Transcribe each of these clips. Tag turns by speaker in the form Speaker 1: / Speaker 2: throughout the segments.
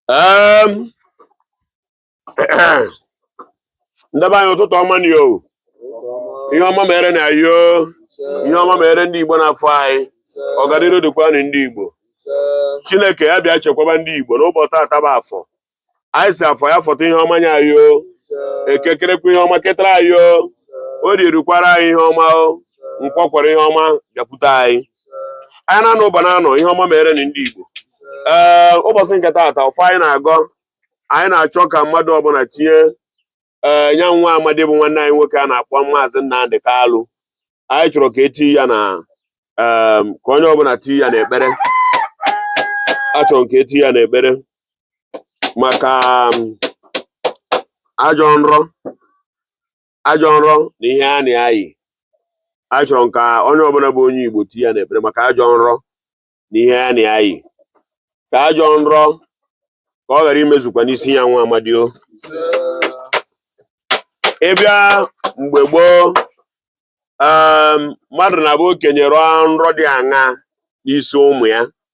Speaker 1: Em, ndị be anyị ụtụtụ ọma nụ o ihe ọma merenụ anyị o ihe ọma mere ndị igbo n'afọ anyị ọganiru dịkwanụ ndị igbo chineke ya bịa chekwaba ndị igbo n'ụbọchị tata bụ afọ anyị sị afọ ya fọta ihe ọma nye anyị o eke kerekwa ihe ọma ketara anyị o orie rukwara anyị ihe ọma o nkwọ kwọrọ ihe ọma bịakwute anyị ahịa na-anọ ụbọ na-anọ ihe ọma merenụ ndị Igbo ee ụbọchị nke taata ọfọ anyị na-agọ anyị na-achọ ka mmadụ ọbụla tinye ee nya nwa amadi bụ nwanne anyị nwoke a na-akpọ maazị Nnamdị Kalụ anyị chọrọ ka e tii ya na ee ka onye ọbụla tii ya n'ekpere a chọrọ ka e tii ya n'ekpere maka ajọ nrọ ajọ nrọ na ihe a na-ayị anyị chọrọ ka onye ọbụla bụ onye Igbo tii ya n'ekpere maka ajọ nrọ na ihe a na-ayị ka ajọ nrọ ka ọ ghara imezukwa n'isi ya nwa amadi o ị bịa mgbe gboo mmadụ na-abụ okenye rọọ nrọ dị aṅa n'isi ụmụ ya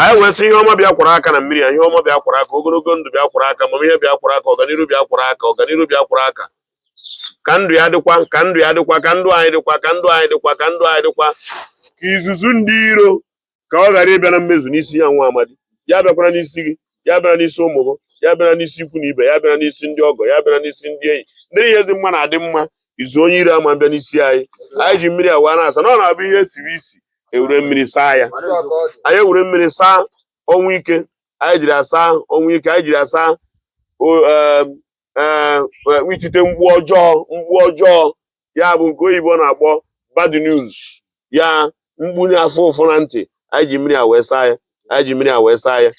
Speaker 1: anyị wee sị ihe ọma bịa kwara aka na mmiri a ihe ọma bịa kwara aka ogologo ndụ bịa kwara aka amamihe bịa kwara aka ọganiru bịa kwara aka ọganiru bịa kwara aka ka ndụ ya dịkwa ka ndụ ya dịkwa ka ndụ anyị dịkwa ka ndụ anyị dịkwa ka ndụ anyị dịkwa ka izuzu ndị iro ka ọ ghara ịbịa na mmezu n'isi ya nwa amadi ya abịakwana n'isi gị ya abịana n'isi ụmụ gị ya abịana n'isi ikwu na ibe ya abịana n'isi ndị ọgọ ya abịana n'isi ndị enyi ndị ihe dị mma na-adị mma izu onye iro ama abịa n'isi anyị anyị ji mmiri a wee na-asa na ọ na-abụ ihe etiri isi e were mmiri saa ya anyị ewere mmiri saa ọnwụ ike anyị jiri asa ọnwụ ike anyị jiri asa itite mkpu ọjọọ ya bụ nke oyibo na-akpọ bad news ya mkpu na-afụ ụfụ na ntị anyị ji mmiri a wee saa ya anyị ji mmiri a wee saa ya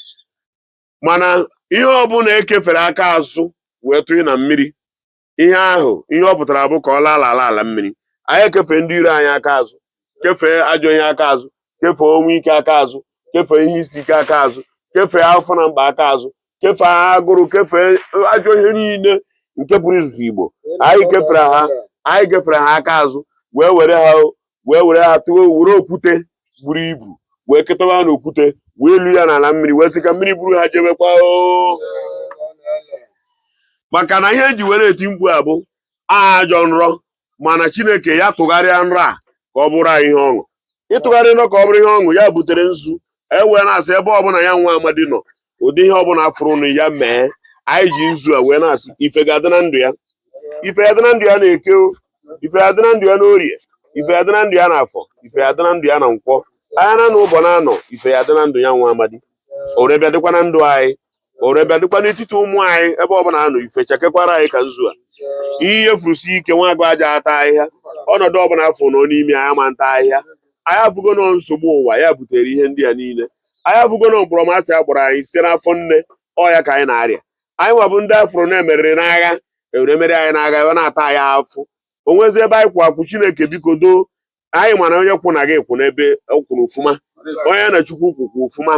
Speaker 1: mana ihe ọbụla e kefere aka azụ wee tụnye na mmiri ihe ahụ ihe ọ pụtara bụ ka ọ laa ala ala mmiri anyị ekefee ndị iro anyị aka azụ kefee ajọ ihe aka azụ kefee ọnwụ ike aka azụ kefee ihe isi ike aka azụ kefee afụfụ na mkpa aka azụ kefee agụrụ kefee ajọ ihe niile nke pụrụ izute igbo anyị kefere ha anyị kefere ha aka azụ wee were ha wee were ha tụọ were okwute buru ibu wee ketawa ha n'okwute wee lu ya n'ala mmiri wee sị ka mmiri buru ha jebekwa maka na ihe e ji were eti mkpu a bụ ajọ nrọ mana chineke ya tụgharịa nrọ a ka ọ bụrụ anyị ihe ọṅụ ị tụgharịa nrọ ka ọ bụrụ ihe ọṅụ ya butere nzu e wee na-asị ebe ọbụla ya nwa amadi nọ ụdị ihe ọbụla fụrụnụ ya mee anyị ji nzu a wee na-asị ife ga-adị na ndụ ya ife ya dị na ndụ ya n'eke ife ya dị na ndụ ya n'orie ife ya dị na ndụ ya n'afọ ife ya dị na ndụ ya na nkwọ ahịa na anọ ụbọ na anọ ife ya dị na ndụ ya nwa amadi o wee bịa dịkwa na ndụ anyị ore bịa dịkwa n'etiti ụmụ anyị ebe ọbụla a nọ ife chakekwara anyị ka nzu a ihe furusi ike nwa agụ aja ata ahịhịa ọnọdụ ọbụla afọ nọ n'ime anyị ama ata ahịhịa anyị afụgo nọ nsogbu ụwa ya butere ihe ndị a niile anyị afụgo nọ mkpọrọmasị a kpọrọ anyị site n'afọ nne ọ ya ka anyị na-arịa anyị nwa bụ ndị afụrụ na emeriri n'agha ewere mere anyị n'agha ebe na-ata anyị afụ o nwezi ebe anyị kwụ akwụ chineke biko doo anyị ma na onye kwụ na gị kwụ n'ebe ọ kwụrụ ọfụma onye na chukwu kwụ kwụ ọfụma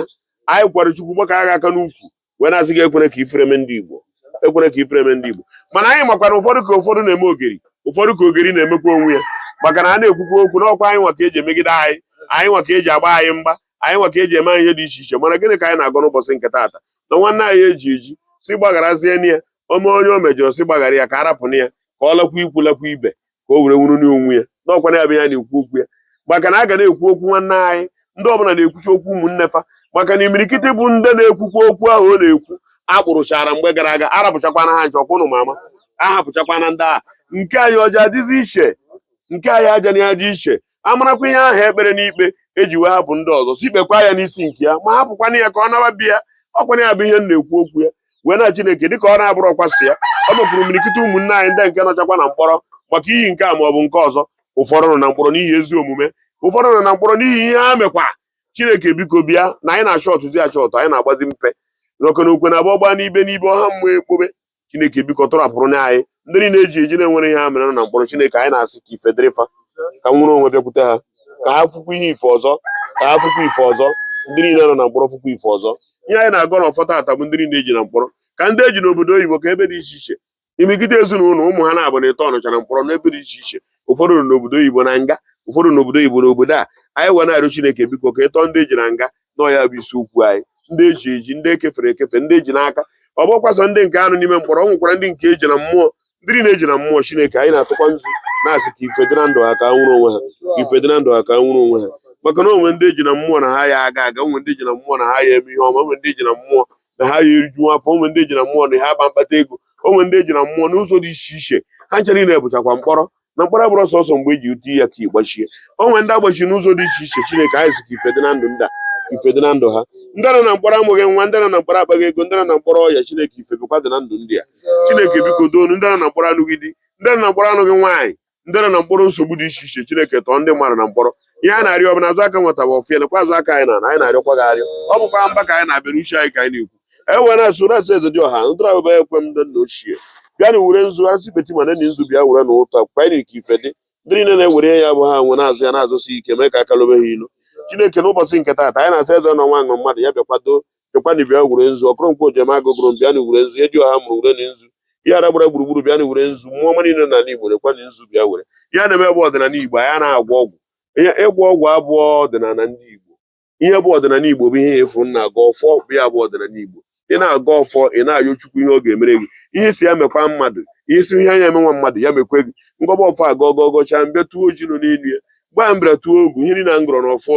Speaker 1: anyị kwara chukwu gbaka agha aka n'ukwu wee na-asị gị ekwere ka ifere mee ndị igbo ekwere ka ifere mee ndị igbo mana anyị makwa na ụfọdụ ka ụfọdụ na-eme ogeri ụfọdụ ka ogeri na-emekwa onwe ya maka na a na-ekwukwa okwu n'ọkwa anyị nwa ka eji emegide anyị anyị nwa ka eji agba anyị mgba anyị nwa ka eji eme anyị ihe dị iche iche mana gịnị ka anyị na-agọ n'ụbọchị nke taata na nwanne anyị eji eji sị gbagharazienụ ya ome onye o mejọrọ sị gbaghara ya ka arapụnụ ya ka ọ lakwa ikwu lakwa ibe ka o were nwere onwe ya n'ọkwa na ya bụ ya na-ekwu okwu ya maka na a ga na-ekwu okwu nwanne anyị ndị ọbụla na-ekwuchi okwu ụmụnne fa maka na imirikiti bụ ndị na-ekwukwa okwu ahụ ọ na-ekwu akpụrụchara mgbe gara aga arapụchakwana ha ncha kwanụ mama ahapụchakwana ndị a nke anyị ọ ja adịzi iche nke anyị aja na aja iche amarakwa ihe ahụ e kpere n'ikpe eji wee hapụ ndị ọzọ sị kpekwa ya n'isi nke ya ma hapụkwana ya ka ọ naba be ya ọkwana ya bụ ihe m na-ekwu okwu ya wee na Chineke dịka ọ na-abụrọkwa sọ ya nọ mkpọrọ imirikiti ụmụnne anyị ndị nke nọchakwa na mkpọrọ maka ihi nke a ma ọ bụ nke ọzọ ụfọdụ nọ na mkpọrọ n'ihi ezi omume ụfọdụ nọ na mkpọrọ n'ihi ihe ha mekwa Chineke biko bịa na anyị na-achọ ọtụtụ ya chọọtụ anyị na-agbazi mpe n'oke na okwe na abụọ gbaa n'ibe n'ibe ọha mmụọ ekpobe Chineke biko tọrapụrụ na anyị ndị niile eji eji na-enwerọ ihe ha mere nọ na mkpọrọ Chineke anyị na-asị ka ife dịrị fa ka nwere onwe bịakwute ha ka ha fụkwa ihe ife ọzọ ka ha fụkwa ife ọzọ ndị niile nọ na mkpọrọ fụkwa ife ọzọ ihe anyị na-agọ n'ọfọ taata bụ ndị niile eji na mkpọrọ ka ndị eji n'obodo oyibo ka ebe dị iche iche imirikiti ezinụlọ ụmụ ha naabọ na etọ nọcha na mkpọrọ n'ebe dị iche iche ụfọdụ nọ n'obodo oyibo na nga ụfọdụ n'obodo oyibo n'obodo a anyị wee na-arịọ Chineke biko ka ị tọọ ndị eji na nga nọ ya bụ isiokwu anyị ndị eji eji ndị ekefere ekefe ndị eji n'aka ọ bụrọkwa sọ ndị nke a nọ n'ime mkpọrọ o nwekwara ndị nke eji na mmụọ ndị niile eji na mmụọ chineke anyị na-atụkwa nzu na-asị ka ife dị na ndụ ha ka ha nwere onwe ha ife dị na ndụ ha ka ha nwere onwe ha maka na o nwe ndị eji na mmụọ na ha ya aga aga o nwe ndị eji na mmụọ na ha ya eme ihe ọma o nwe ndị eji na mmụọ na ha ya eriju afọ o nwe ndị eji na mmụọ na ha ama akpata ego o nwe ndị eji na mmụọ n'ụzọ dị iche iche ha ncha na-abụchakwa mkpọrọ na mkpọrọ abụrọ sọsọ mgbe eji ụtụ ya ka ịgbachie o nwere ndị agbachi n'ụzọ dị iche iche chineke anyị sị ka ife dị na ndụ ndị a ife dị na ndụ ha ndị nọ na mkpọrọ amụghị nwa ndị nọ na mkpọrọ akpaghị ego ndị nọ na mkpọrọ ọya chineke ife bụkwa dị na ndụ ndị a chineke biko doonu ndị nọ na mkpọrọ anụghị di ndị nọ na mkpọrọ anụghị nwaanyị ndị nọ na mkpọrọ nsogbu dị iche iche chineke tọọ ndị mmadụ na mkpọrọ ihe a na-arịọ bụ na azụ aka nwata bụ ọfịa nakwa azụ aka anyị na anyị na-arịọkwa gị arịọ ọ bụkwa mba ka anyị na-aba n'uche anyị ka anyị na-ekwu e wee na-asụ na-asị eze dị ọha ndụrụ abụba ekwe m ndị nna ochie bịa na were nzu asị beti ma nne nzu bịa were na ụta kwanyere ka ife dị ndị niile na-ewere ya bụ ha nwe na-azụ ya na-azụsi ike mee ka aka lobe ha ilu chineke n'ụbọchị nke taata anyị na-asị eze na nwa ṅụrụ mmadụ ya bịakwado bịakwana bịa were nzu ọkụrụnkwa ojem agụgụrụ m bịa na were nzu eji ọha mụrụ were na nzu ihe ara gbara gburugburu bịa na were nzu mmụọ ọma niile n'ala igbo rekwa na nzu bịa were ihe a na-eme bụ ọdịnala igbo anyị na-agwọ ọgwụ ihe ịgwọ ọgwụ abụrọ ọdịnala ndị igbo ihe bụ ọdịnala Igbo bụ ihe ị fụ na-agọ ọfọ bụ ya bụ ọdịnala Igbo ị na-agọ ọfọ ị na-ayọ Chukwu ihe ọ ga-emere gị ihe si ya mekwa mmadụ ihe si ihe anya emenwa mmadụ ya mekwe gị m gọba ọfọ a agọ agọcha m bịa tụọ ọjị nọ n'elu ya gbaa m bịa tụọ ogu ihe niile na m gọrọ na ọfọ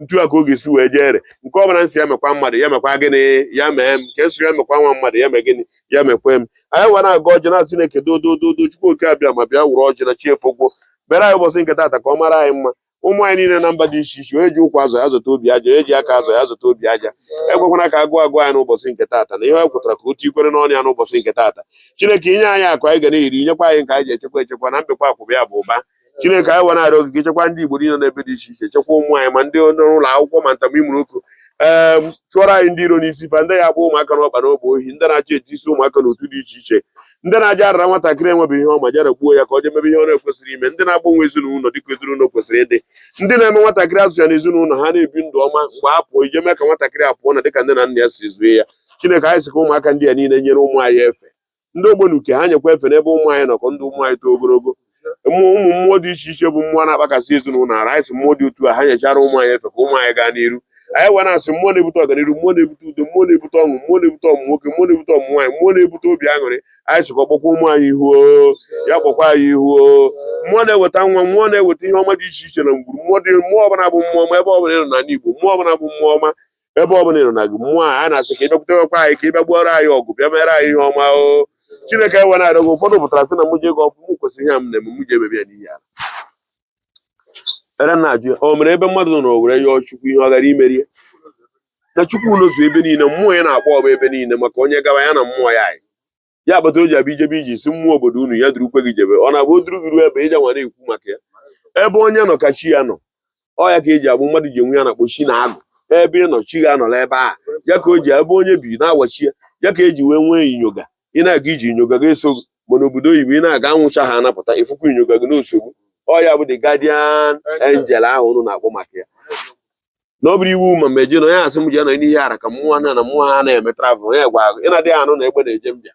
Speaker 1: etu a ka ọ ga-esi wee jere nke ọbụla m sị ya mekwa mmadụ ya mekwa gịnị ya mee m nke m sị ya mekwa nwa mmadụ ya mee gịnị ya mekwe m anyị were agọ ọjị na Chineke dodododo Chukwu oke abịama bịa were ọjị na chi efogwo bịara anyị ụbọchị nke taata ka ọ mara anyị mma ụmụ anyị niile na mba dị iche iche onye ji ụkwụ azụ ya zụta obi aja onye ji aka azụ ya zụta obi aja ekwekwana ka agụụ gụọ anyị n'ụbọchị nke taata na ihe ọ pụtara ka otu ikwere n'ọnụ ya n'ụbọchị nke taata chineke i nye anyị akụ anyị ga na-eri nyekwa anyị nke anyị ji echekwa echekwa na mbekwa akwụba ya bụ ụba chineke anyị wee na-arịọ gị gị chekwa ndị igbo niile n'ebe dị iche iche chekwa ụmụ anyị ma ndị ụlọ akwụkwọ ma ntamimụrụ ụkụ ee chụọrọ anyị ndị iro n'isi fa ndị ya bụ ụmụaka n'ọkpa n'ọgba ohi ndị na-achọ itinyesi ụmụaka n'otu dị iche iche ndị na-aja arara nwatakịrị enwebeghị ihe ọ ma jara gbuo ya ka ọ jee mebe ihe ọ na-ekwesịrị ime ndị na-agbanwe ezinụlọ dịka ezinụlọ kwesịrị ịdị ndị na-eme nwatakịrị azụ ya na ezinụlọ ha na-ebi ndụ ọma mgbe a pụọ ije mee ka nwatakịrị a pụọ na dịka nne na nna ya si zue ya chineke anyị sị ka ụmụaka ndị a niile nyere ụmụ anyị efe ndị ọgbọnuke ha nyekwa efe n'ebe ụmụ anyị nọ ka ndụ ụmụ anyị too ogologo mmụọ ụmụ mmụọ dị iche iche bụ mmụọ na-akpakasị ezinụlọ ara anyị sị mmụọ dị otu a ha nyechara ụmụ anyị efe ka ụmụ anyị gaa n'iru anyị wee na-asị mmụọ na-ebute ọganiru mmụọ na-ebute udo mmụọ na-ebute ọṅụ mmụọ na-ebute ọmụ nwoke mmụọ na-ebute ọmụ nwaanyị mmụọ na-ebute obi aṅụrị anyị sịkwa kpọkwa ụmụ anyị ihu ya kpọkwa anyị ihu mmụọ na-eweta nwa mmụọ na-eweta ihe ọma dị iche iche na ngwuru mmụọ dị mmụọ ọbụla bụ mmụọ ọma ebe ọbụla ị nọ n'ala Igbo mmụọ ọbụla bụ mmụọ ọma ebe ọ bụla ị nọ na gị mmụọ a na-asị ka ị bịakwutekwa anyị ka ị bịa gbuoro anyị ọgụ bịa mere anyị ihe ọma o chineke e wee na-arịọ gị ụfọdụ pụtara sị na mụ ji agọ ọfọ mụ kwesịrị ihe a m na-eme mụ je mebe ya n'ihu ala e wee na-ajụ ya o nwere ebe mmadụ nọ were yọọ chukwu ihe ọ ghara imere ya na chukwu nọzu ebe niile mmụọ ya na-akpọ ọba ebe niile maka onye gawa ya na mmụọ ya yi ya kpata o ji abụ ị jebe ije ị sị mmụọ obodo unu ya durukwe gị jebe ọ na-abụ o duru gị ruo ebe ị je nwa na-ekwu maka ya ebe onye nọ ka chi ya nọ ọ ya ka eji abụ mmadụ ji enwe ya na-akpọ chi na agụ ebe ị nọ chi gị anọla ebe a ya ka o ji ebe onye bi na-awachi ya ya ka eji wee nwee inyoga ị na-aga ije inyoga gị eso gị ma n'obodo oyibo ị na-aga anwụ chaa ọ na-apụta ị fụkwa inyoga gị na-eso gị ọ ya bụ the guardian angel ahụ unu na-akpọ maka ya na ọ bụrụ iwu ma ma eje na onye asị m ji anọ n'ihe ara ka mmụọ na na mmụọ ha na-eme travel onye gwa gị ị na-adịghị anụ na egbe na-eje mbịa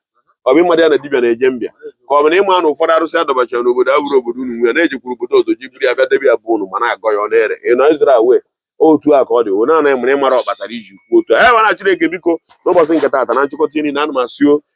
Speaker 1: ọ bụ ị madịghị na dibịa na-eje mbịa ka ọ bụ na ị ma na ụfọdụ arụsị adọbachara n'obodo abụrọ obodo unu nwe na e jekwuru obodo ọzọ je buru ya bịa debe ya bụ unu ma na-agọ ya ọ na-ere ị nọ Izrel otu a ka ọ dị o na-anaghị mara ịmara ọkpatara iji kwuo otu a e nwere Chineke biko n'ụbọchị nke taata na nchịkọta niile a na m asị o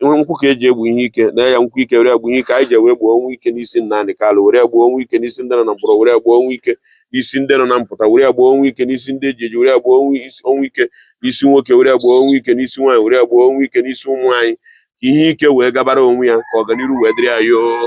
Speaker 1: nwe nkwụ ka eji egbu ihe ike na ya nkwụ ike were egbu ihe ike anyị ji were gbuo ọnwụ ike n'isi Nnamdi Kanu were gbuo ọnwụ ike n'isi ndị nọ na mkpọrọ were gbuo ọnwụ ike n'isi ndị nọ na mpụta were gbuo ọnwụ ike n'isi ndị eji eji were gbuo ọnwụ ike n'isi nwoke were gbuo ọnwụ ike n'isi nwaanyị were gbuo ọnwụ ike n'isi ụmụ anyị ka ihe ike wee gabara onwe ya ka ọganihu wee dịrị anyị oo